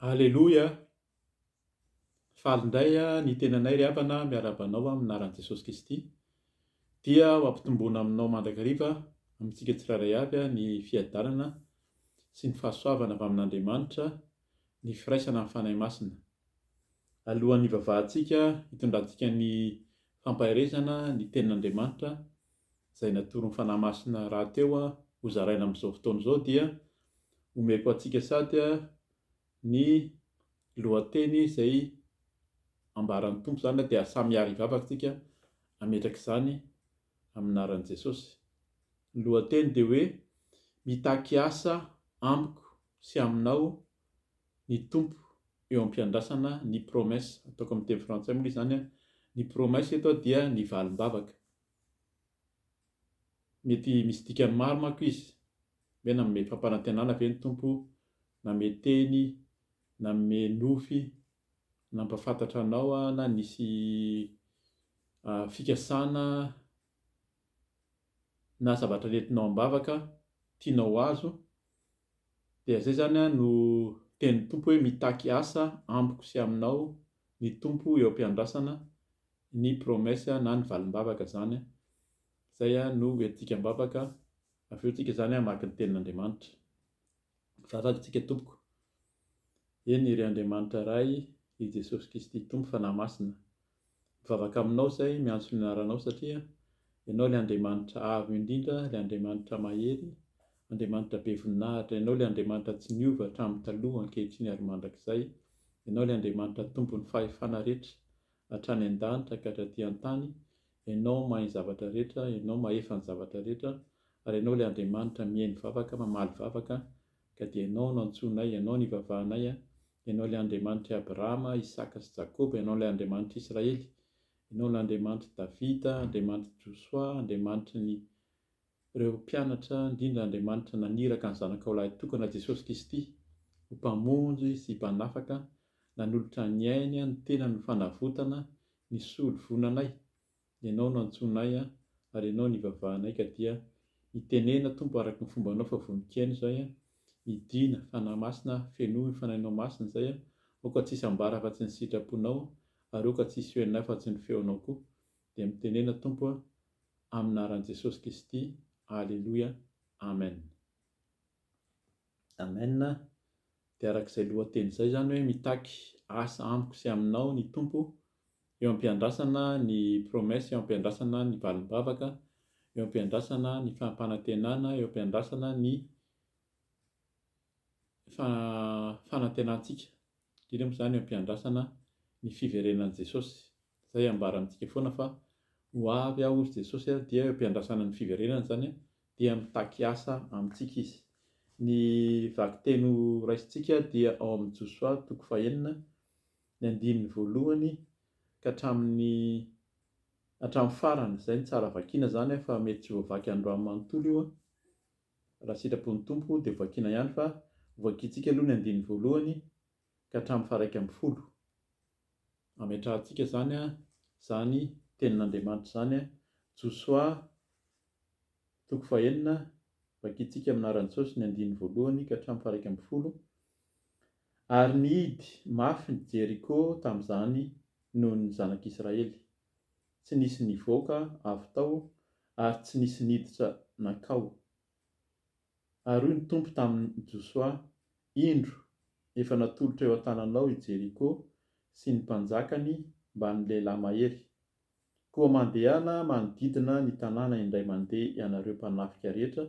Aleloia! Faly indray ny tenanay ry havana miarahaba anao amin'ny anaran'i Jesosy Kristy. Dia ho ampitomboina aminao mandrakariva amintsika tsirairay avy ny fiadanana sy ny fahasoavana avy amin'Andriamanitra, ny firaisana amin'ny Fanahy Masina. Alohan'ny hivavahantsika hitondrantsika ny fampaherezana ny tenin'Andriamanitra izay natoron'ny Fanahy Masina rahateo hozaraina amin'izao fotoana izao dia omeko antsika sady ny lohateny izay ambaran'ny Tompo izany dia samy hiaro ny vavaka isika hametraka izany amin'ny anaran'i Jesosy. Ny lohateny dia hoe mitaky asa amiko sy aminao ny Tompo eo am-piandrasana ny promesse, ataoko amin'ny teny frantsay moa izany, ny promesse eto dia ny valim-bavaka. Mety misy dikany maro manko izy, hoe nanome fampanantenana ve ny Tompo, nanome teny, nanome nofy, nampahafantatra anao na nisy fikasana na zavatra nentinao am-bavaka tianao ho azo. dia izay izany no tenin'ny Tompo hoe mitaky asa amiko sy aminao ny Tompo eo am-piandrasana ny promesse na ny valim-bavaka izany, izay no hoentintsika am-bavaka, avy eo tsika izany hamaky ny tenin'Andriamanitra. Vavaka tsika tompoko. Eny, ry Andriamanitra Ray, ry Jesosy Kristy Tompo Fanahy Masina, mivavaka aminao izay miantso ny anaranao satria Ianao ilay Andriamanitra Avo indrindra, ilay Andriamanitra Mahery, Andriamanitra Be Voninahitra, Ianao ilay Andriamanitra tsy niova hatramin'ny taloha, ankehitriny ary mandrakizay, Ianao ilay Andriamanitra Tompon'ny Fahefana rehetra, hatrany an-danitra ka hatraty an-tany, Ianao mahay ny zavatra rehetra, Ianao mahefa ny zavatra rehetra, ary Ianao ilay Andriamanitra mihaino vavaka, mamaly vavaka, ka dia Ianao no antsoinay, Ianao no ivavahanay an! Ianao ilay Andriamanitr'i Abrahama, Isaka sy Jakoba, Ianao ilay Andriamanitr'i Israely, Ianao ilay Andriamanitr'i Davida, Andriamanitr'i Josoa, Andriamanitry ny ireo mpianatra, indrindra Andriamanitra naniraka ny Zanakao lahitokana Jesosy Kristy ho Mpamonjy sy Mpanafaka, nanolotra ny ainy, ny tenany ho fanavotana, nisolo vonanay. Ianao no antsoinay an, ary Ianao no ivavahanay, ka dia mitenena Tompo araka ny fombanao fa vonon-kiaina izay an, midina, Fanahy Masina an, fenoy ny Fanahinao Masina izay an, aoka tsy hisy ambara afa-tsy ny sitraponao an, ary aoka tsy hisy feonay afa-tsy ny feonao koa, dia mitenena Tompo an, amin'ny anaran'i Jesosy Kristy, Aleloia, Amen. Amen, de arak'izay lohateny izay izany hoe mitaky asa amiko sy aminao ny Tompo eo ampiandrasana ny promesse eo ampiandrasana ny valimbavaka eo ampiandrasana ny fampanantenana eo ampiandrasana ny fanantenantsika indrindra moa izany eo ampiandrasana ny fiverenan'i Jesosy Izay ambara amintsika foana fa ho avy aho hoy Jesosy a, dia eo am-piandrasana ny fiverenany izany a, dia mitaky asa amintsika izy. Ny vakiteny ho raisintsika dia ao amin'ny Josoa toko fahenina, ny andininy voalohany ka hatramin'ny hatramin'ny farany. Izay no tsara vakiana izany a, fa mety tsy voavaky androany manontolo io a, raha sitrapon'ny Tompo dia ho vakiana ihany fa ho vakintsika aloha ny andininy voalohany, ka hatramin'ny faharaika ambin'ny folo. Ametrahantsika izany izany tenin'Andriamanitra izany, Josoa toko fahenina, vakintsika amin'ny anaran'i Jesosy ny andininy voalohany ka hatramin'ny faharaika ambin'ny folo, Ary nihidy mafy ny Jeriko tamin'izany noho ny zanak'Israely, tsy nisy nivoaka avy tao ary tsy nisy niditra nankao, Ary hoy ny Tompo tamin'i Josoa, Indro, efa natolotra eo an-tananao i Jeriko sy ny mpanjakany mbamin'ny lehilahy mahery. Koa mandehana manodidina ny tanàna indray mandeha ianareo mpanafika rehetra,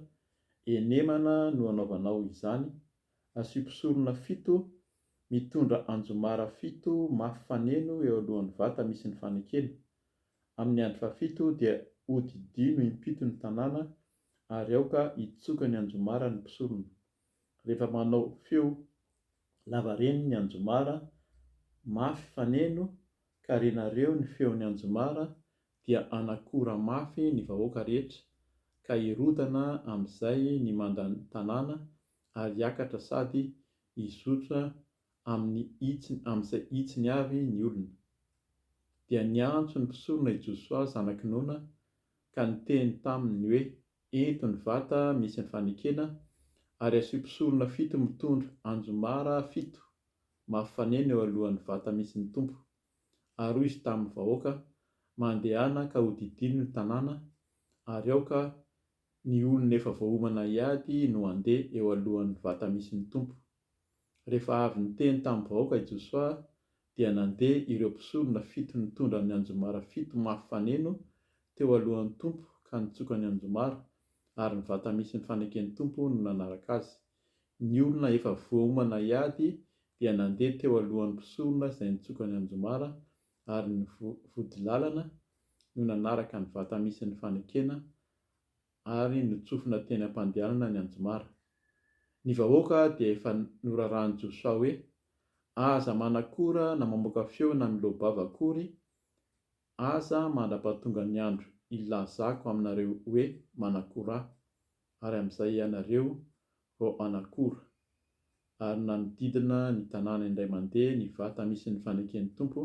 henemana no hanaovanao izany, asio mpisorona fito mitondra anjomara fito mafy faneno eo alohan'ny vata misy ny fanekena. Amin'ny andro fahafito dia hodidino impito ny tanàna ary aoka hitsoka ny anjomara ny mpisorona. Rehefa manao feo lavareny ny anjomara mafy faneno ka renareo ny feon'ny anjomara dia hanakora mafy ny vahoaka rehetra ka hirodana amin'izay ny mandan-tanàna ary hiakatra sady hizotra amin'ny hitsiny amin'izay hitsiny avy ny olona. Dia niantso ny mpisorona i Josoa zanak'i Nona ka niteny taminy hoe, Eto ny vata misy ny fanekena, ary asio mpisorona fito mitondra anjomara fito mafy fanena eo alohan'ny vata misy ny Tompo. Ary hoy izy tamin'ny vahoaka, Mandehana ka hodidino ny tanàna, ary aoka ny olona efa voaomana hiady no handeha eo alohan'ny vata misy ny Tompo. Rehefa avy niteny tamin'ny vahoaka i Josoa, dia nandeha ireo mpisorona fito nitondra ny anjomara fito mafy faneno teo alohan'ny Tompo ka nitsoka ny anjomara, ary ny vata misy ny faneken'ny Tompo no nanaraka azy. Ny olona efa voaomana hiady dia nandeha teo alohan'ny mpisorona izay nitsoka ny anjomara, ary ny vodilalana no nanaraka ny vata misy ny fanekena ary notsofina teny am-pandehanana ny anjomara. Ny vahoaka dia efa norarahan'i Josoa hoe, Aza manakora na mamoaka feo na miloa-bava akory, aza mandra-pahatonga ny andro hilazako aminareo hoe manakora ahy, ary amin'izay ianareo ho an'akora. Ary nanodidina ny tanàna indray mandeha ny vata misy ny faneken'ny Tompo,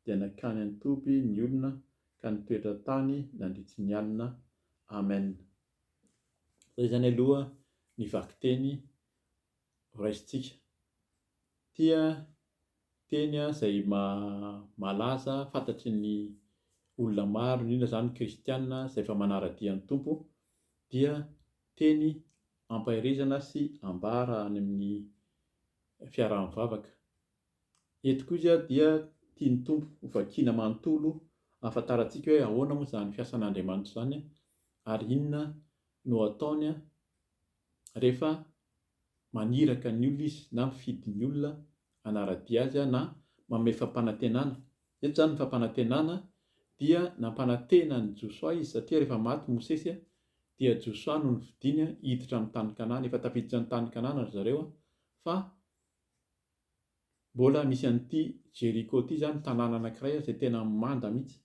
dia nankany an-toby ny olona ka nitoetra tany nandritry ny alina. Amen. Izay izany aloha ny vakiteny horaisintsika. Tia teny izay malaza fantatry ny olona maro, indrindra izany ny kristiana izay efa manara-dia ny Tompo, dia teny ampaherezana sy ambara any amin'ny fiaraha-mivavaka. Eto koa izy dia tian'ny Tompo ho vakiana manontolo ahafantarantsika hoe ahoana moa izany fiasan'Andriamanitra izany ary inona no ataony rehefa maniraka ny olona izy na mifidy ny olona hanara-dia azy na manome fampanantenana Eto izany ny fampanantenana dia nampanantena an'i Josoa izy satria rehefa maty Mosesy dia Josoa no nofidiny hiditra amin'ny tany Kanana. Efa tafiditra ny tany Kanana ry zareo fa mbola misy an'ity Jeriko ity izany tanàna anankiray izay tena manda mihitsy.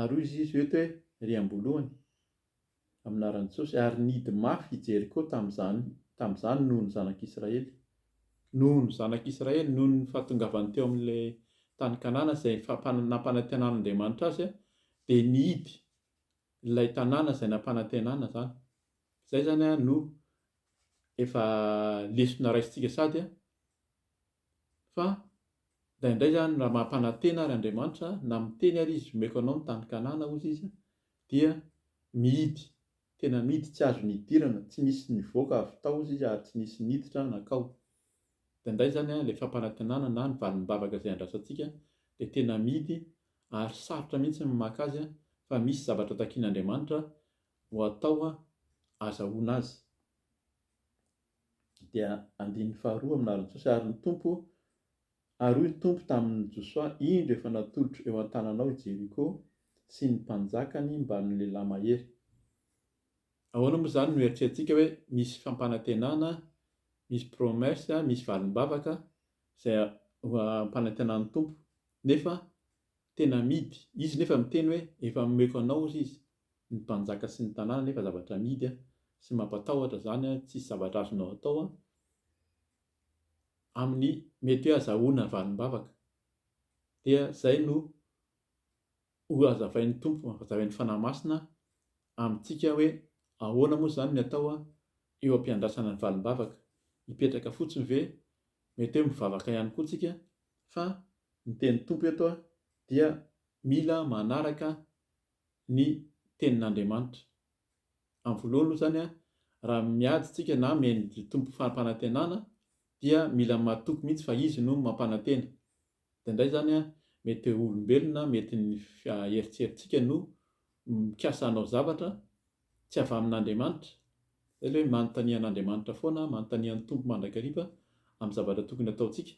Ary hoy izy eto hoe ry am-boalohany amin'ny anaran'i Jesosy, ary nihidy mafy i Jeriko tamin'izany, tamin'izany noho ny zanak'Israely, noho ny zanak'Israely, noho ny fahatongavany teo amin'ilay tany Kanana izay nampanantenan'Andriamanitra azy, dia nihidy ilay tanàna izay nampanantenana izany, izay izany no efa lesona raisintsika sady fa indraindray izany raha mampanantena ary Andriamanitra na miteny ary Izy, omeko anao ny tany Kanana hozy Izy, dia mihidy tena mihidy tsy azony hidirana tsy misy nivoaka avy tao izy ary tsy nisy niditra nankao dia indray izany ilay fampanantenana na ny valimbavaka izay andrasantsika dia tena mihidy ary sarotra mihitsy ny maka azy fa misy zavatra takian'Andriamanitra ho atao azahoana azy dia andininy faharoa amin'ny lalan'i Jesosy ary ny Tompo Ary hoy ny Tompo tamin' i Josoa, Indro, efa natolotro eo an-tananao i Jeriko sy ny mpanjakany mba ny lehilahy mahery. Ahoana moa izany no eritreretintsika hoe misy fampanantenana, misy promesse, misy valim-bavaka izay ho ampanantenan'ny Tompo, nefa tena amidy? Izy nefa miteny hoe, Efa nomeko anao, hozy Izy, ny mpanjaka sy ny tanàna, nefa zavatra amidy sy mampatahotra izany, tsisy zavatra azonao atao. amin'ny mety hoe azahoana valim-bavaka, dia izay no ho azavain'ny Tompo, hazavain'ny Fanahy Masina amintsika hoe ahoana moa izany ny atao eo am-piandrasana ny valim-bavaka, hipetraka fotsiny ve, mety hoe mivavaka ihany koa tsika fa ny tenin'ny Tompo eto dia mila manaraka ny tenin'Andriamanitra, Amin'ny voalohany aloha izany, raha miady isika na mihaino Tompo fampanantenana dia mila matoky mihitsy fa Izy no mampanantena. Dia indray izany mety ho olombelona, mety ny eritreritsika no mikasa hanao zavatra tsy avy amin'Andriamanitra. Izay ilay hoe manontania an'Andriamanitra foana, manontania ny Tompo mandrakariva amin'ny zavatra tokony hataontsika.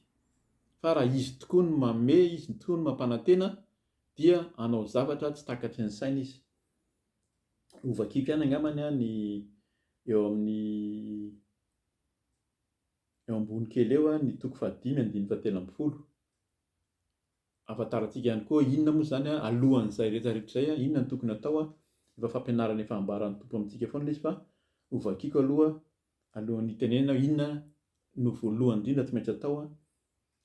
Fa raha Izy tokoa no manome, Izy tokoa no mampanantena dia hanao zavatra tsy takatry ny saina izy. ho vakiko ihany angambany an ny eo amin'ny eo ambony kely eo an ny toko fahadimy andininy fahatelo ambin'ny folo. Ahafantarantsika ihany koa inona moa izany an alohan'izay rehetra rehetra izay an inona no tokony hatao an efa fampianarana efa ambaran'ny Tompo amintsika foana izy fa ho vakiko aloha alohan'ny hitenenana hoe inona no voalohany indrindra tsy maintsy atao an.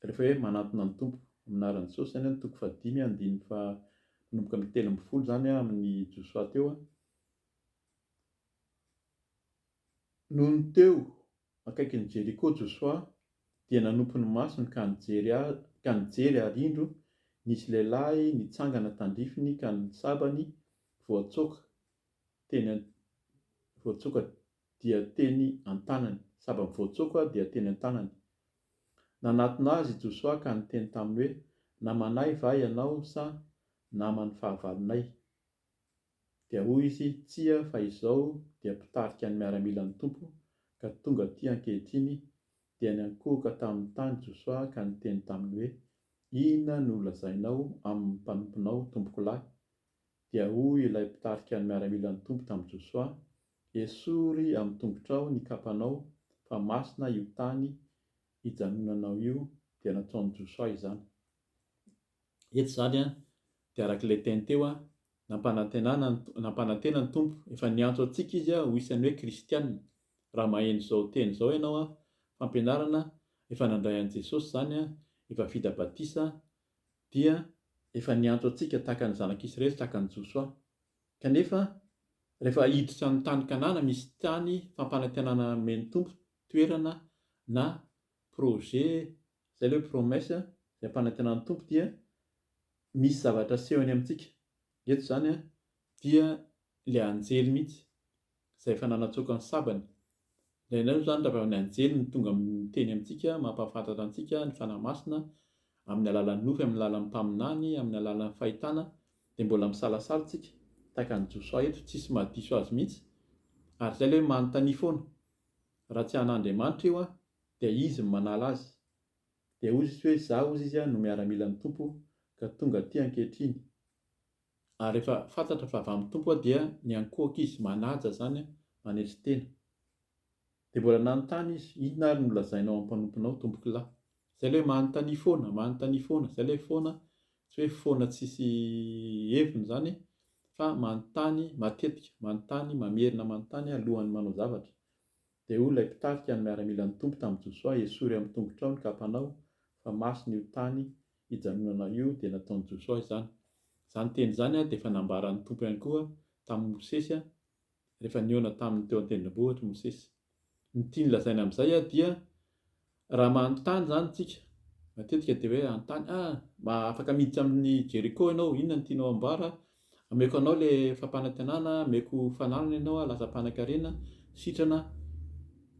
Rehefa hoe manantona ny Tompo amin'ny anaran'i Jesosy izany an, toko fahadimy an, andininy faha, manomboka amin'ny telo ambin'ny folo izany an, amin'ny Josoa teo an, Nony teo akaikin'i Jeriko Josoa dia nanompo ny masony ka nijery a, ka nijery ary indro nisy lehilahy nitsangana tandrifiny ka ny sabany voatsoaka teny an, voatsoaka dia teny an-tanany. Saba mivoatsoako aho dia teny an-tanany. Nanatona azy i Josoa ka niteny taminy hoe, Namanay va ianao sa naman'ny fahavalonay? Dia hoy izy, Tsia, fa izao dia mpitarika ny miaramilan'ny Tompo ka tonga aty ankehitriny. Dia niankohoka tamin'ny tany Josoa ka niteny taminy hoe, Inona no lazainao amin'ny mpanomponao, tompokolahy? Dia hoy ilay mpitarika ny miaramilan'ny Tompo tamin'i Josoa, Esory amin'ny tongotrao ny kapanao fa masina io tany ijanonanao io dia nataon'i Josoa izany. Eto izany an, dia araka ilay teny teo an, nampanantenana ny, nampanantena ny Tompo, efa niantso antsika Izy ho isan'ny hoe kristiana. Raha maheno izao teny izao ianao an, fampianarana efa nandray an'i Jesosy izany an, efa vita batisa, dia efa niantso antsika tahaka ny zanak'Israely, tahaka an'i Josoa. Kanefa, rehefa hiditra ny tany Kanana, misy tany fampanantenana nomen'ny Tompo, toerana na projet, izay ilay hoe promesse, izay ampanantenan'ny Tompo dia misy zavatra asehony amintsika. Eto izany dia ilay anjely mihitsy. izay efa nanatsoaka ny sabany. Indraindray moa izany raha avy amin'ny anjely no tonga miteny amintsika, mampahafantatra antsika ny Fanahy Masina amin'ny alalan'ny nofy, amin'ny alalan'ny mpaminany, amin'ny alalan'ny fahitana, dia mbola misalasala isika, tahaka an'i Josoa eto, tsisy mahadiso Azy mihitsy, ary izay ilay hoe manontania foana. Raha tsy an'Andriamanitra io an, dia Izy no manala azy. Dia hozy izy hoe, Izaho, hozy izy, no miaramilan'ny Tompo, ka tonga aty ankehitriny. Ary efa fantatra fa avy amin'ny Tompo aho dia niankohoka izy, manaja izany aho, manetry tena. Dia mbola nanontany izy, Inona ary no lazainao amin'ny mpanomponao, Tompokolahy? Izay ilay hoe manontania foana, manontania foana, izay ilay foana, tsy hoe foana tsisy heviny izany e, fa manontany matetika, manontany, mamerina manontany alohan'ny manao zavatra. Dia hoy ilay mpitarika ny miaramilan'ny Tompo tamin'i Josoa, Esory amin'ny tongotrao ny kapanao, fa masina io tany hijanonanao io, dia nataon'i Josoa izany. Izany teny izany dia efa nambaran'ny Tompo ihany koa tamin'i Mosesy rehefa nihaona taminy teo an-tendrombohitra i Mosesy. Ny tiany lazaina amin'izay dia Raha manontany izany isika, matetika dia hoe hanontany, ah, mba afaka miditra amin'ny Jeriko ianao, inona no tianao amboara, ameko anao ilay fampanantenana, ameko fananana ianao, lasa mpanankarena, sitrana,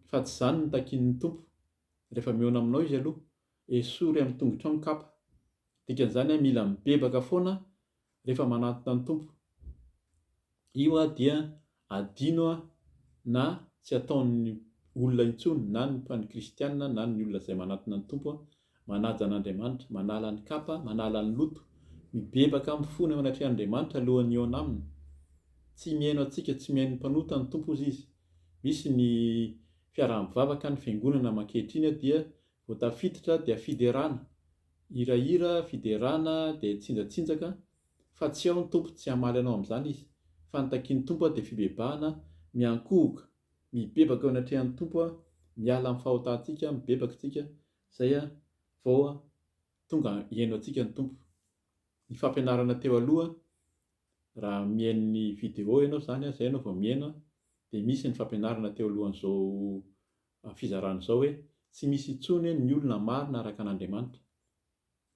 fa tsy izany no takian'ny Tompo. Rehefa mihaona aminao Izy aloha, esory amin'ny tongotrao ny kapa. Dikan'izany, mila mibebaka foana rehefa manatona ny Tompo. Io aho dia adino aho na tsy ataon'ny olona intsony na ny mpan'ny kristiana na ny olona izay manatona ny Tompo aho, manaja an'Andriamanitra, manala ny kapa, manala ny loto, mibebaka mifona eo anatrehan'Andriamanitra alohan'ny hihaona aminy. Tsy mihaino antsika, tsy mihaino ny mpanota ny Tompo hozy izy. Misy ny fiaraha-mivavaka, ny fiangonana mankehitriny dia Vao tafiditra dia fiderana, hirahira, fiderana dia tsinjatsinjaka fa tsy ao ny Tompo, tsy hamaly anao amin'izany Izy, fa ny takian'ny Tompo dia fibebahana, miankohoka, mibebaka eo anatrehan'ny Tompo, miala amin'ny fahotantsika, mibebaka isika, izay vao tonga hihaino antsika ny Tompo. Ny fampianarana teo aloha, raha mihaino ny video ianao izany, izay ianao vao mihaino, dia misy ny fampianarana teo alohan'izao Amin'ny fizarana izao hoe tsy misy intsony hoe ny olona marina araka an'Andriamanitra.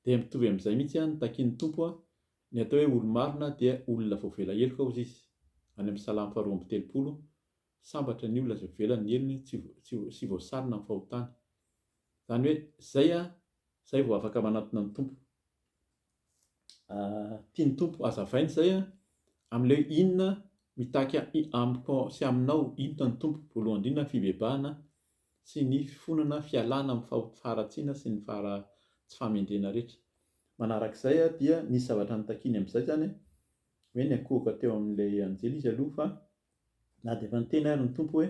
Dia mitovy amin'izay mihitsy ihany ny takian'ny Tompo, ny atao hoe olo-marina dia olona voavela heloka hozy Izy. Any amin'ny Salamo faharoa amby telopolo, Sambatra ny olona izay voavela ny helony tsy tsy sy voasarona amin'ny fahotany. Izany hoe zay an, zay vao afaka manantona ny Tompo. tian'ny Tompo hazavaina izay a, amin'ilay hoe inona mitaky amiko sy aminao, inona ny Tompo, voalohany indrindra ny fibebahana sy ny fifonana, fialana amin'ny faharatsiana sy ny fahara- tsy fahamendrena rehetra. Manarak'izay dia nisy zavatra nitakiany amin'izay izany hoe niankohoka teo amin'ilay anjely izy aloha fa na dia efa niteny ary ny Tompo hoe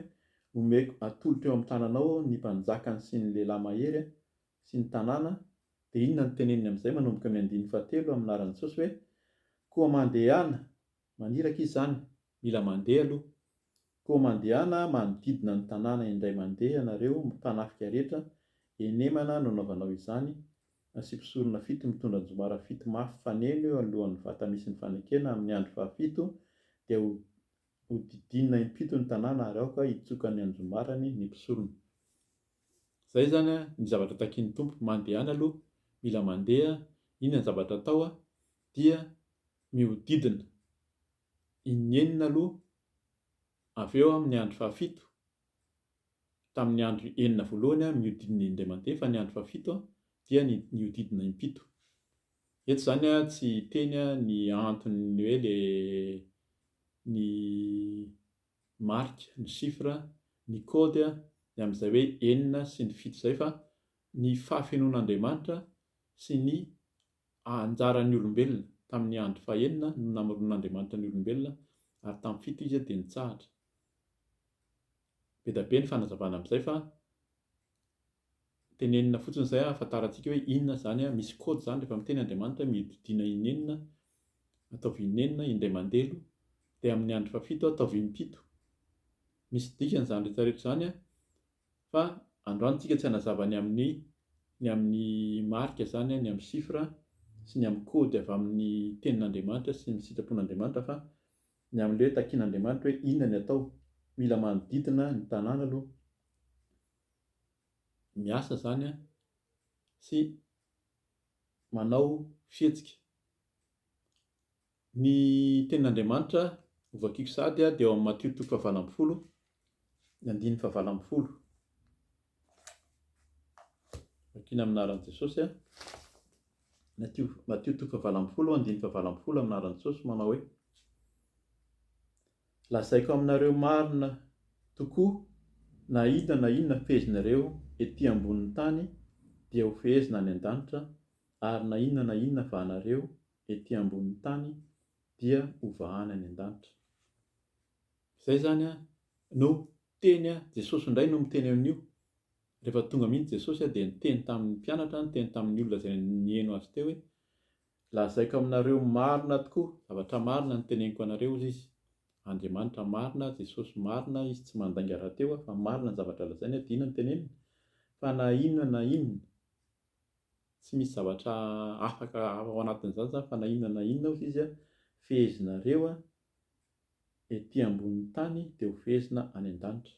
omeko, atolotro eo amin'ny tananao ny mpanjakany sy ny lehilahy mahery sy ny tanàna, dia inona no teneniny amin'izay manomboka amin'ny andininy fahatelo amin'ny laharan'i Jesosy hoe, Koa mandehana! Maniraka izy izany, mila mandeha aloha. Koa mandehana manodidina ny tanàna indray mandeha ianareo mpanafika rehetra, henemana no anaovanao izany, asiako sorona fito mitondra anjomara fito mafy faneno eo anoloan'ny vata misy ny fanekena amin'ny andro fahafito, dia ho hodidinina impito ny tanàna ary aoka hitsoka ny anjombarany ny mpisorona. Zay zany a ny zavatra takian'ny Tompo, mandehana aloha, mila mandeha, inona ny zavatra atao a, dia mihodidina inenina aloha, avy eo amin'ny andro fahafito, tamin'ny andro enina voalohany a mihodidina indray mandeha fa ny andro fahafito a dia ny mihodidina impito. Eto zany a tsy hiteny a ny antony ny hoe le ny ny marika, ny chiffre, ny code, ny amin'izay hoe enina sy ny fito izay fa ny fahafenoan'Andriamanitra sy ny anjaran'ny olombelona. Tamin'ny andro fahenina no namoronan'Andriamanitra ny olombelona ary tamin'ny fito izy dia nitsahatra. Be dia be ny fanazavana amin'izay fa Tenenina fotsiny izay ahafantarantsika hoe inona izany, misy code izany rehefa miteny Andriamanitra hoe mihodidina inenina, ataovy inenina, indray mandelo, dia amin'ny andro fahafito ataovy impito. Misy dikany izany rehetra rehetra izany fa androany tsika tsy hanazava ny amin'ny ny amin'ny marika izany, ny amin'ny chiffre sy ny amin'ny code avy amin'ny tenin'Andriamanitra sy ny sitrapon'Andriamanitra fa ny amin'ilay hoe takin'Andriamanitra hoe inona ny atao. Mila manodidina ny tanàna aloha miasa izany an, sy manao fihetsika. Ny tenin'Andriamanitra hovakiko sahady dia ao amin'ny Matio toko fahavalo ambin'ny folo, ny andininy fahavalo ambin'ny folo. Vakina amin'ny anaran'i Jesosy an, Matio, Matio toko fahavalo ambin'ny folo, andininy fahavalo ambin'ny folo amin'ny anaran'i Jesosy manao hoe. Lazaiko aminareo marina tokoa, na inona na inona fehezinareo ety ambonin'ny tany dia ho fehezina any an-danitra, ary na inona na inona vahanareo ety ambonin'ny tany dia ho vahana any an-danitra. Izay izany no teny, Jesosy indray no miteny an'io. Rehefa tonga mihitsy Jesosy dia niteny tamin'ny mpianatra, niteny tamin'ny olona izay niheno Azy teo hoe, Lazaiko aminareo marina tokoa, zavatra marina no teneniko anareo, hozy izy. Andriamanitra marina, Jesosy marina, izy tsy mandainga rahateo aho fa marina ny zavatra lazainy aho dia inona no teneniny? Fa na inona na inona, tsy misy zavatra afaka ao anatin'izany izany fa na inona na inona, hozy izy, fehezinareo ety ambonin'ny tany dia ho fehezina any an-danitra.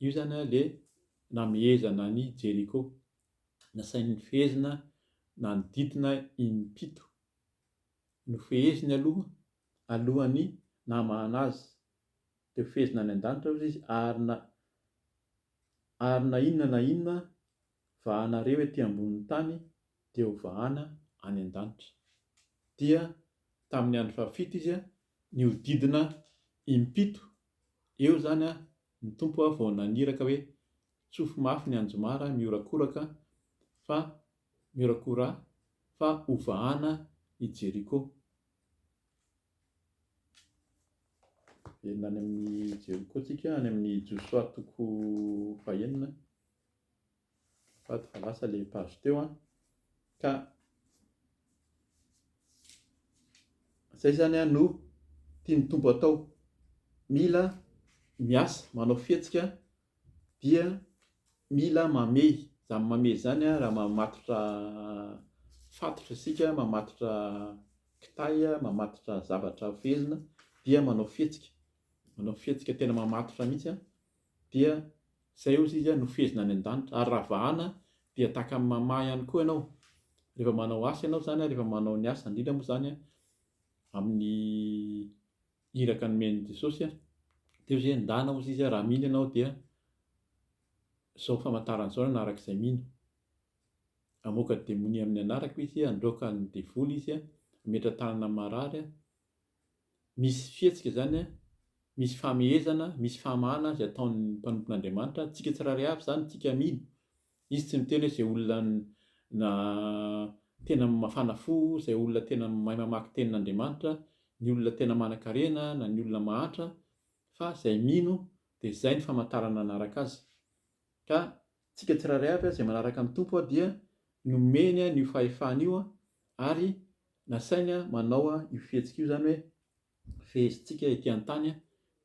Io izany ilay namehezana an'i Jeriko. Nasainy nifehezina nanodidina im-pito. Nofeheziny aloha, alohan'ny nahamahana azy. Dia hofehezina any an-danitra hozy izy, ary na, ary na inona na inona vahanareo ety ambonin'ny tany, dia hovahana any an-danitra. Dia tamin'ny andro fahafito izy ny hodidina impito eo izany ny Tompo vao naniraka hoe tsofy mafy ny anjomara mihorakoraka fa mihora-kora fa ho vahana i Jeriko. Enina any amin'ny Jeriko tsika any amin'ny Josoa toko fahenina. Azafady fa lasa ilay page teo an, ka izay izany an no tian'ny Tompo atao, mila miasa, manao fihetsika dia mila mamehy, izany mamehy izany an, raha mamatotra fatotra isika, mamatotra kitay, mamatotra zavatra fehezina dia manao fihetsika, manao fihetsika tena mamatotra mihintsy an. dia izay hozy izy no fehezina any an-danitra, ary raha vahana dia tahaka ny mamaha ihany koa ianao, rehefa manao asa ianao izany, rehefa manao ny asa, indrindra moa izany amin'ny iraka nomen'i Jesosy, dia hozy izy endana hozy izy raha mino ianao dia izao famantarana izao ny hanaraka izay mino, hamoaka demonia amin'ny anarako izy, handroaka ny devoly izy, hametra-tanana amin'ny marary, misy fihetsika izany, misy famehezana, misy fahamahana izay ataon'ny mpanompon'Andriamanitra, antsika tsirairay avy izany, antsika mino. Izy tsy miteny hoe izay olona tena mafana fo, izay olona tena mahay mamaky tenin'Andriamanitra, ny olona tena manankarena na ny olona mahantra, fa izay mino dia izay no famantarana hanaraka azy. Ka. Tsika tsirairay avy izay manaraka ny Tompo dia nomeny an'io fahefana io ary nasainy manao io fihetsika io, izany hoe fehezintsika ety an-tany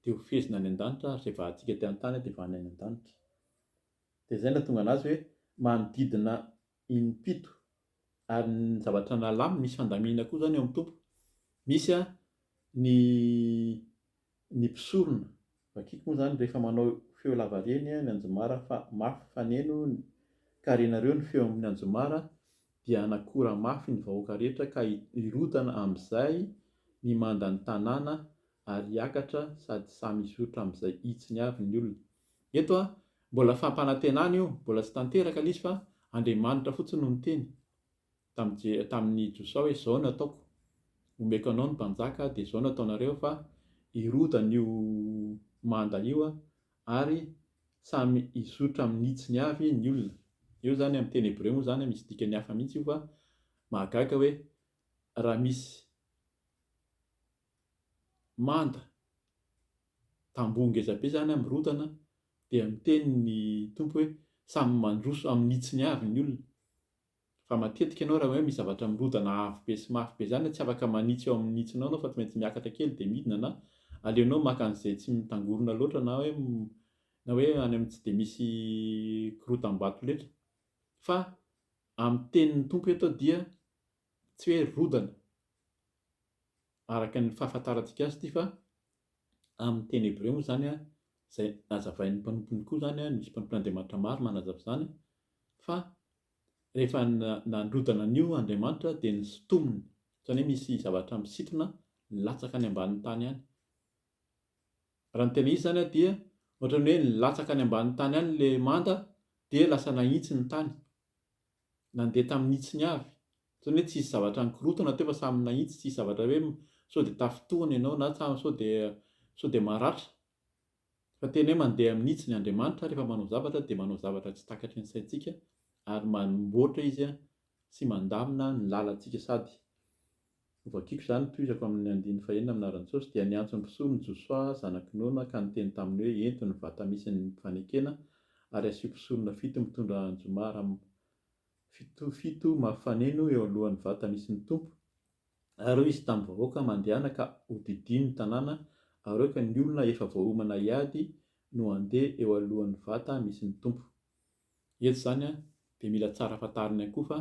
dia ho fehezina any an-danitra ary izay vahantsika ety an-tany dia vahana any an-danitra. Dia izay no nahatonga an'azy hoe manodidina in-pito. Ary ny zavatra nalaminy, misy fandamina koa izany ao amin'ny Tompo. Misy ny ny mpisorona, vakiko moa izany rehefa manao feo lavareny ny anjomara fa mafy faneno ka renareo ny feo amin'ny anjomara dia hanakora mafy ny vahoaka rehetra ka hirodana amin'izay ny manda ny tanàna ary hiakatra sady samy hizotra amin'izay hitsiny avy ny olona. Eto a, mbola fampanantenana io, mbola tsy tanteraka ilay izy fa Andriamanitra fotsiny no niteny tamin'i tamin'i Josoa hoe izao no ataoko, omeko anao ny mpanjaka dia izao no ataonareo fa hirodana io manda io ary samy hizotra amin'ny hitsiny avy ny olona. Io izany amin'ny teny hebreo moa izany misy dikany hafa mihitsy io fa mahagaga hoe raha misy manda, tamboho ngeza be izany mirotana dia miteny ny Tompo hoe samy mandroso amin'ny hitsiny avy ny olona fa matetika ianao raha hoe misy zavatra mirodana avo be sy mafy be izany tsy afaka manitsy eo amin'ny hitsinao ianao fa tsy maintsy miakatra kely dia midina na aleonao maka an'izay tsy mitangorona loatra na hoe na hoe any amin'ny tsy dia misy korotam-bato loatra fa amin'ny tenin'ny Tompo eto dia tsy hoe rodana araka ny fahafantarantsika azy ity fa amin'ny teny hebreo moa izany izay nazavain'ny mpanompony koa izany a, nisy mpanompon'Andriamanitra maro nanazava izany fa rehefa nandrodana an'io Andriamanitra dia nisintominy, izany hoe misy zavatra misintona nilatsaka any ambanin'ny tany any. Raha ny tena izy izany dia ohatran'ny hoe nilatsaka any ambanin'ny tany any ilay manda dia lasa nahitsy ny tany. Nandeha tamin'ny hitsiny avy. Ohatran'ny hoe tsy hisy zavatra nikorontana teo fa samy nahitsy, tsy hisy zavatra hoe sao dia tafintohina ianao na tsa sao dia sao dia maratra. Fa tena hoe mandeha amin'ny hitsiny. Andriamanitra rehefa manao zavatra dia manao zavatra tsy takatry ny saintsika ary manmboatra Izy sy mandamina ny lalantsika sady. Novakiko izany nitohizako amin' ny andininy fahenina amin' Arantsôsy dia niantso ny mpisolo ny Josoa zanaky Nona ka niteny taminy hoe ento ny vata misy ny fanekena ary asio mpisorona fito mitondra anjomara am fito fito mafaneno eo alohan' ny vata misy ny Tompo ary hoy izy tamin' ny vahoaka mandehana ka hodidiany ny tanàna ary aoka ny olona efa voaomana hiady no handeha eo alohan' ny vata misy ny Tompo. Eto izany an, dia mila tsara fantarina ihany koa fa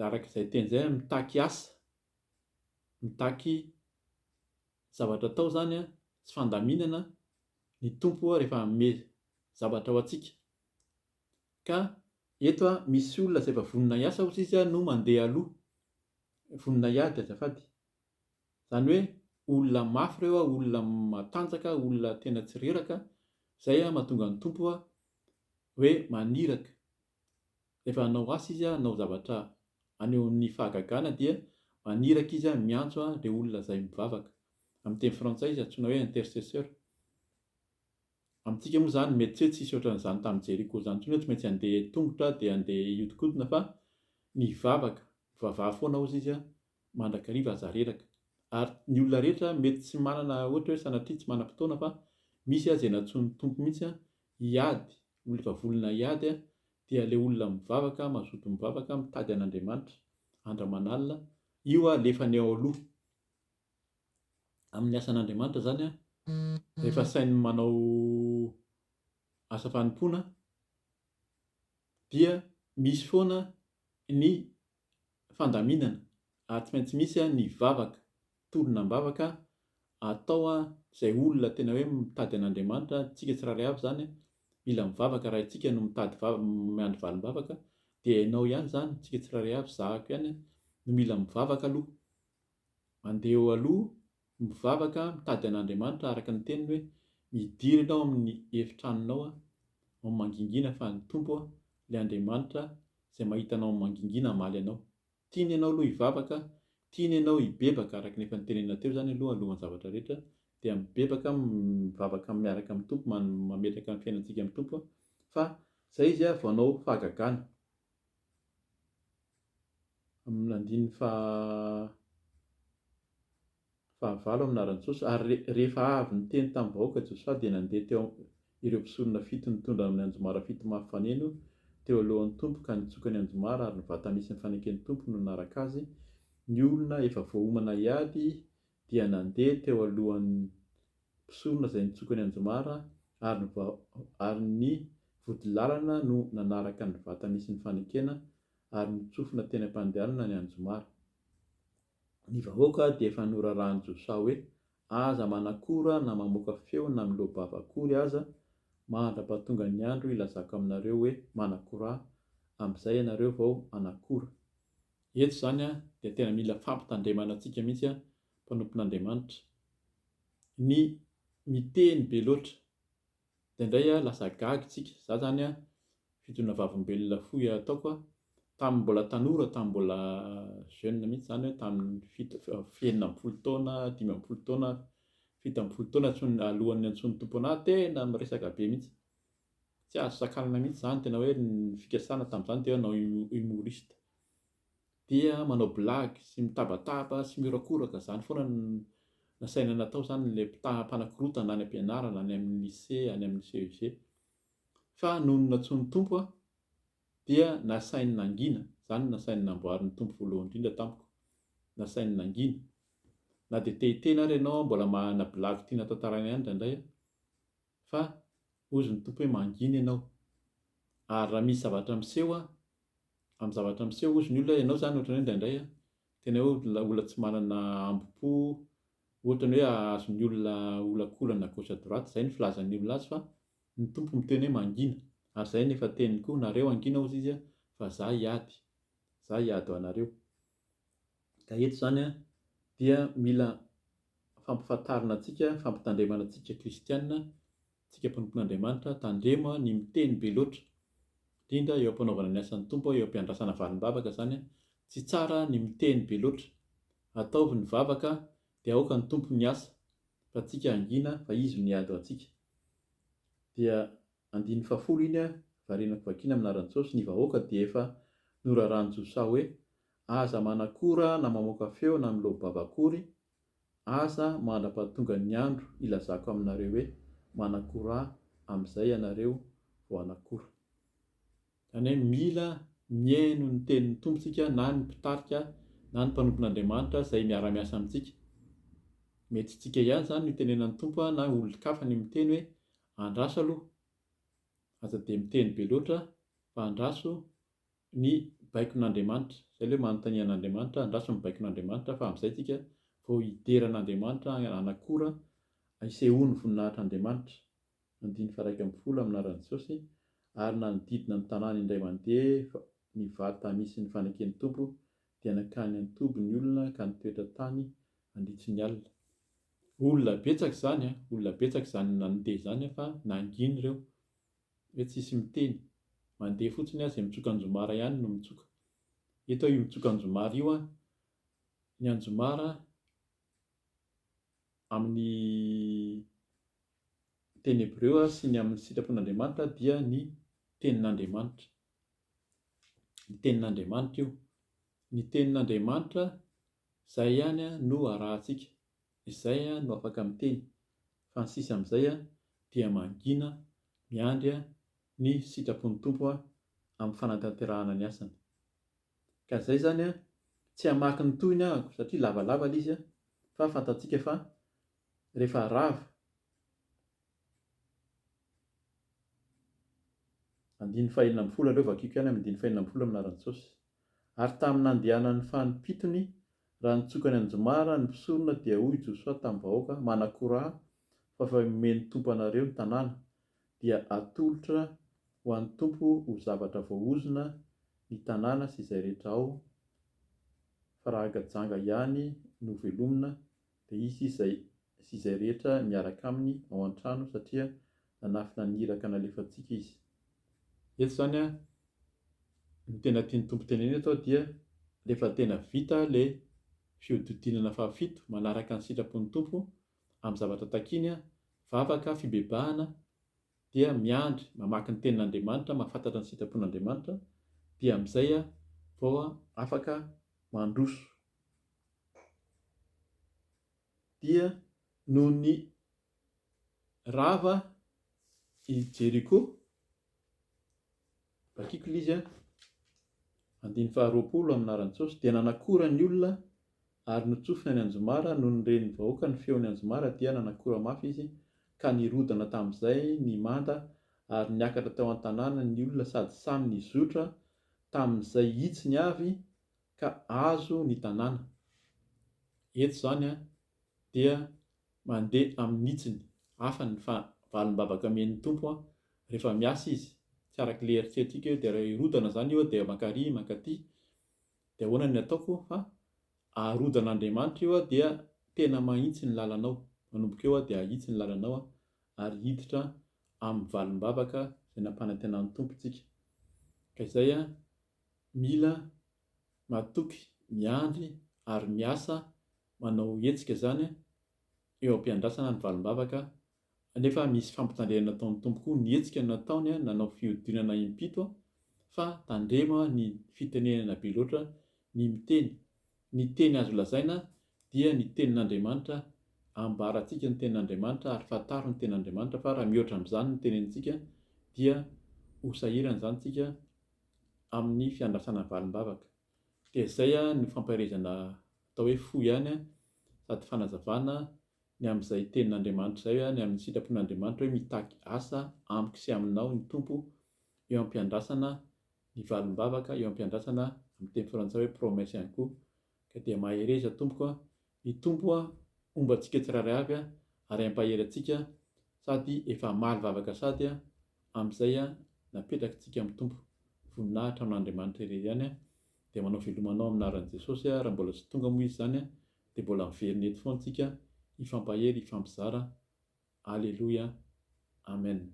araka izay teny izay an, mitaky asa, mitaky zavatra atao izany an, sy fandaminana ny Tompo rehefa hanome zavatra ho antsika. Ka eto an, misy olona izay efa vonona hiasa hozy izy an, no mandeha aloha. Vonona hiady azafady. Izany hoe olona mafy ireo a, olona matanjaka, olona tena tsy reraka, izay a mahatonga ny Tompo a hoe maniraka. Rehefa hanao asa izy a, hanao zavatra haneho ny fahagagana dia maniraka izy a, miantso a ireo olona izay mivavaka. Amin'ny teny frantsay izy antsoina hoe intercesseur. Amintsika moa izany mety tsy hoe tsy nisy ohatran'izany tamin'i Jeriko izany intsony hoe tsy maintsy handeha tongotra dia handeha hihodinkodina fa nivavaka, mivavaha foana hozy izy a, mandrakariva aza reraka. Ary ny olona rehetra mety tsy manana ohatra hoe sanatria tsy manam-potoana fa misy aza ianatsoan'ny Tompo mihitsy an, hiady, ho livavolona hiady an, dia ilay olona mivavaka, mazoto mivavaka, mitady an'Andriamanitra andro aman'alina, io alefany ao aloha. Amin'ny asan'Andriamanitra izany an, rehefa sainy manao asa fanompoana dia misy foana ny fandaminana ary tsy maintsy misy ny vavaka, tolona am-bavaka atao izay olona tena hoe mitady an'Andriamanitra, isika tsirairay avy izany mila mivavaka raha isika no mitady vav, miandry valim-bavaka dia ianao ihany izany, isika tsirairay avy, zahako ihany no mila mivavaka aloha. Mandeha eo aloha, mivavaka, mitady an'Andriamanitra araka ny teniny hoe, Midiry ianao amin'ny efitranonao ao amin'ny mangingina fa ny Tompo, ilay Andriamanitra izay mahita anao amin'ny mangingina hamaly anao. Tiany ianao aloha hivavaka, tiany ianao hibebaka araka ny efa notenenina teo izany aloha alohan'ny zavatra rehetra dia mibebaka, mivavaka miaraka amin'ny Tompo, mametraka ny fiainantsika amin'ny Tompo fa izay izy vao hanao fahagagana. Amin'ny andininy faha fahavalo amin'ny laharan-tsosa, ary re, rehefa avy niteny tamin'ny vahoaka Josoa dia nandeha teo am-, ireo mpisorona fito nitondra amin'ny anjomara fito mafy faneno teo alohan'ny Tompo ka nitsoka ny anjomara ary ny vata nisy ny faneken'ny Tompo no nanaraka azy, ny olona efa voaomana hiady dia nandeha teo alohan'ny mpisorona izay nitsoka ny anjomara ary ny vodilalana no nanaraka ny vata nisy ny fanekena ary notsofina teny am-pandehanana ny anjomara. Ny vahoaka dia efa norarahan'i Josoa hoe aza manakora na mamoaka feo na miloa-bava akory aza mandra-pahatonga ny andro hilazako aminareo hoe manakora, amin'izay ianareo vao hanakora. Eto izany dia tena mila fampitandremana antsika mihitsy mpanompon'Andriamanitra. Ny miteny be loatra dia indray a lasa gaga isika. Za zany a fidohina vavolombelona fohy ataoko a tamin'ny mbola tanora tamin'ny mbola jeune mihitsy zany hoe tamin'ny fito enina amby folo taona dimy amby folo taona fito amby folo taona tsy alohan'ny antsoin'ny tompo anah tena miresaka be mihitsy tsy azo sakanana mihitsy zany tena hoe ny fikasana tamin'izany dia hanao humoriste dia manao blagy sy mitabataba sy mihorakoraka, izany foana no nasaina natao izany ilay mpitaha mpanakorotana any am-pianarana, any amin'ny lycée, any amin'ny CEG. Fa nony nantsoin'ny Tompo aho dia nasainy nangina, izany no nasainy namboarin'ny Tompo voalohany indrindra tamiko, nasainy nangina. Na dia te-hiteny ary ianao mbola manana blagy tiana tantaraina ihany indraindray aho, fa hozy ny Tompo hoe mangina ianao. Ary raha misy zavatra miseho an, amin'ny zavatra miseho hozy ny olona, ianao izany ohatran'ny hoe indraindray an, tena hoe olona tsy manana hambom-po, ohatran'ny hoe hahazo ny olona olakolana à gauche à droite, izay ny filazan'ny olona azy fa ny Tompo miteny hoe mangina. Ary izay no efa teniny koa, nareo hangina hozy izy an, fa za hiady, za hiady ho anareo. Ka eto izany dia mila fampifantarina antsika, fampitandremana antsika kristiana, antsika mpanompon'Andriamanitra, tandremo ny miteny be loatra, indrindra eo am-panaovana ny asan'ny Tompo, eo am-piandrasana valim-bavaka izany, tsy tsara ny miteny be loatra, ataovy ny vavaka dia aoka ny Tompo ny asa, fa antsika hangina fa Izy no hiady ho antsika. Dia Andininy fahafolo iny ah, varianako vakiana amin'ny laharan-tsôsy, ny vahoaka dia efa noraràn-jo saha hoe, aza manakora na mamoaka feo na miloa-bava akory, aza mandra-pahatongan' ny andro hilazako aminareo hoe, manakora ahy, amin'izay ianareo vao hanakora. Izany hoe mila mihaino ny tenin'ny Tompo isika na ny mpitarika na ny mpanompon' Andriamanitra izay miara-miasa amintsika. Mety tsy tsika ihany izany no itenenan'ny Tompo na olon-kafa ny miteny hoe, Andraso aloha. Aza dia miteny be loatra fa andraso ny baikon'Andriamanitra. Izay ilay hoe manontania an'Andriamanitra, andraso ny baikon'Andriamanitra fa amin'izay isika vao hidera an'Andriamanitra hanakora, hisehoan'ny voninahitr'Andriamanitra. Andininy faharaika ambin'ny folo amin'ny anaran'i Jesosy, ary nanodidina ny tanàna indray mandeha ny vata misy ny faneken'ny Tompo dia nankany an-toby ny olona ka nitoetra tany handritry ny alina. Olona betsaka izany an! Olona betsaka izany nandeha izany an fa nangina ireo hoe tsisy miteny. Mandeha fotsiny an, izay mitsoka anjomara ihany no mitsoka. Eto io mitsoka anjomara io an, ny anjomara amin'ny teny hebreo sy ny amin'ny sitrapon'Andriamanitra dia ny tenin'Andriamanitra. ny tenin'Andriamanitra io. Ny tenin'Andriamanitra izay ihany no arahantsika, izay no afaka miteny, fa ny sisa amin'izay dia mangina miandry ny sitrapon'ny Tompo amin'ny fanatanterahana ny asany. Ka izay izany tsy hamaky ny tohiny ahako satria lavalava ilay izy fa fantatsika fa rehefa rava Andininy fahenina ambin'ny folo aleo vakiako ihany amin'ny andininy fahenina ambin'ny folo amin'ny anaran'i Jesosy. Ary tamin'ny nandehanan'ny fanim-pitony, raha nitsoka ny anjomara ny mpisorona dia hoy Josoa tamin'ny vahoaka, Manakora ahy, fa efa omen'ny Tompo anareo ny tanàna, dia atolotra ho an'ny Tompo ho zavatra voaozona ny tanàna sy izay rehetra ao, fa raha gajanga ihany no velomina Dia hisy izay sy izay rehetra miaraka aminy ao an-trano satria nanafina ny iraka nalefantsika izy. Eto izany an, ny tena tian'ny Tompo tenenina eto dia rehefa tena vita ilay fihodidinana fahafito manaraka ny sitrapon'ny Tompo amin'ny zavatra takiany an, vavaka, fibebahana, dia miandry, mamaky ny Tenin'Andriamanitra, mahafantatra ny sitrapon'Andriamanitra, dia amin'izay vao afaka mandroso. dia nony rava i Jeriko, vakiko ilay izy an, andininy faharoapolo amin'ny anaran'i Jesosy, dia nanakora ny olona ary notsofina ny anjomara, nony ren'ny vahoaka ny feon'ny anjomara dia nanakora mafy izy, ka nirodana tamin'izay ny manda ary niakatra teo an-tanàna ny olona sady samy nizotra tamin'izay hitsiny avy ka azo ny tanàna. Eto izany dia mandeha amin'ny hitsiny hafa ny valim-bavaka omen'ny Tompo rehefa miasa Izy, tsy araka ilay eritreretintsika hoe dia hirodana izany io aho dia mankarỳ mankaty, dia ahoana ny ataoko? Fa arodan'Andriamanitra io aho dia tena mahitsy ny lalanao, manomboka eo aho dia hahitsy ny lalanao ary hiditra amin'ny valim-bavaka izay nampanantenan'ny Tompo antsika. Ka izay Mila matoky miandry ary miasa manao hetsika izany eo am-piandrasana ny valim-bavaka nefa misy fampitandremana ataon'ny Tompo koa ny hetsika nataony nanao fihodinana impito fa tandremo ny fitenenana be loatra ny miteny ny teny azo lazaina dia ny tenin'Andriamanitra ambarantsika ny tenin'Andriamanitra ary fantaro ny tenin'Andriamanitra fa raha mihoatra amin'izany ny tenenintsika dia ho sahirana izany tsika amin'ny fiandrasana valim-bavaka. Dia izay no fampaherezana atao hoe fo ihany sady fanazavana ny amin'izay tenin'Andriamanitra izay, ny amin'ny sitrapon'Andriamanitra hoe mitaky asa amiko sy aminao ny Tompo eo am-piandrasana ny valim-bavaka, eo am-piandrasana amin'ny teny frantsay hoe promesse ihany koa. Ka dia mahereza tompoko Ny Tompo a homba antsika tsirairay avy a ary ampahery antsika sady efa hamaly vavaka sady a amizay a napetraky tsika am Tompo voninahitra amin Andriamanitra irery ihany a dia manao velomanao am naran Jesosy a raha mbola tsy tonga moa izy zany a dia mbola miverina eto foana tsika hifampahery hifampizara Aleloia Amen.